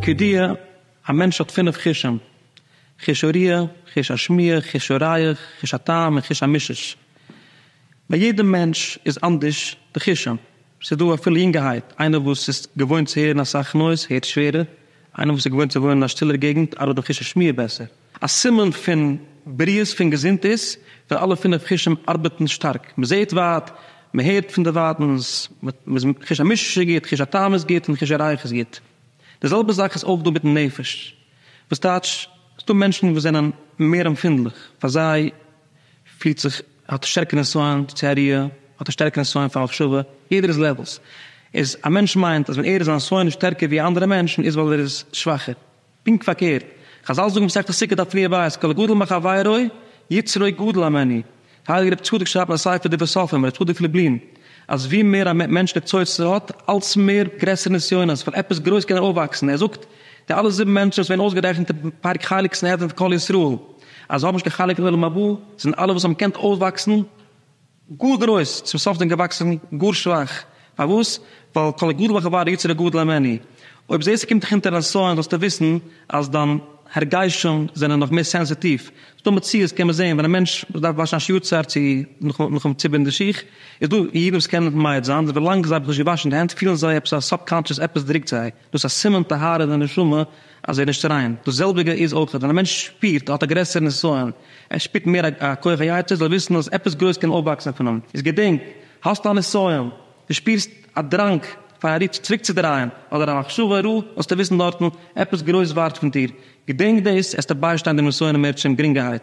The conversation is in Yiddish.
כידוע, א מענטש האט פינף חושים, חוש הריאה, חוש השמיעה, חוש הריח, חוש הטעם און חוש המישוש. ביי יעדעם מענטש איז אנדערש די חושים. ס'איז דא אפילו יונגערהייט, איינער וואס איז געוואוינט צו הערן אסאך נויז, הערט שווערער, איינער וואס איז געוואוינט צו וואוינען אין א שטילער געגנט, ארבעט די חוש השמיעה בעסער. א סימן פון בריאות פון געזונט איז ווען אלע פינף חושים ארבעטן שטארק, מען זעט ווייט, מען הערט פון דערווייטנס, חוש המישוש איז גוט, חוש הטעם איז גוט און חוש הריח איז גוט. די זעלבע זאך איז אויך דא מיטן נפש, וואס טייטש, ס'דא מענטשן וואס זענען מער עמפינדליך, פאר זיי פילט זיך, האט א שטערקע נסיון צו א ריח, האט א שטערקע נסיון פאר מחשבה, יעדער איז לעוועלס, איז א מענטש מיינט אז ווען ער איז זיין נסיון איז שטערקער ווי א אנדערע מענטש איז ווייל ער איז שוואכער. פונקט פארקערט, חזל זאגן מסכת סוכה דף רביעי הבית כל הגדול מחבירו יצרו גדול הממני, הייליגער רבי צדוק שרייבט אין א ספר דברי סופרים, רבי צדוק פלובלין, אז ווי מער א מענטש ווערט צוצער האט אלץ מער גרעסערע נסיונות פון עפעס גרויס קען ער אויפוואקסן, ער זאגט די אלע זיבן מענטשן וואס ווערן אויסגערעכנט אין פרק חלק סנהדרין פון כל ישראל אז זיי האבן נישט קיין חלק אין עולם הבא זענען אלע וואס האבן געקענט אויפוואקסן גאר גרויס, צום סוף דען געוואקסן גאר שוואך, פארוואס? ווייל כל הגדול בחברו יצרו גדול ממני, אויב זעסטו קומט דיך אונטער א נסיון זאלסטו וויסן אז דיין הרגשים זענען נאך מער סענסיטיוו, ס'דא מציאות קען מען זען ווען א מענטש וואס דארף וואשן א שיעור צייט צו נאכן ציבערן די שיך, איז דא אידן וואס קענען מעיד זיין אז ווילאנג זיי האבן זיך נישט געוואשן די הענט פילן זיי עפעס א סאבקאנטשעס עפעס דרוקט זיי, דאס איז א סימן טהרה אין די נשמה אז ער איז נישט ריין. דאס זעלביגע איז אויך ווען א מענטש שפירט ער האט א גרעסערע נסיון, ער שפירט מער א כח היצר, זאל ער וויסן אז עפעס גרויס קען אויפוואקסן פון אים. איז געדענק, האסט א נסיון, דו שפירסט א דראנג פאר א ריטש צוריקצודרייען, אדער א מחשבה רעה, זאלסטו וויסן דארטן, עפעס גרויס ווארט פון דיר. געדענק דאס, עסטו ביישטיין דעם נסיון און מערטשעם גרינגערהייט.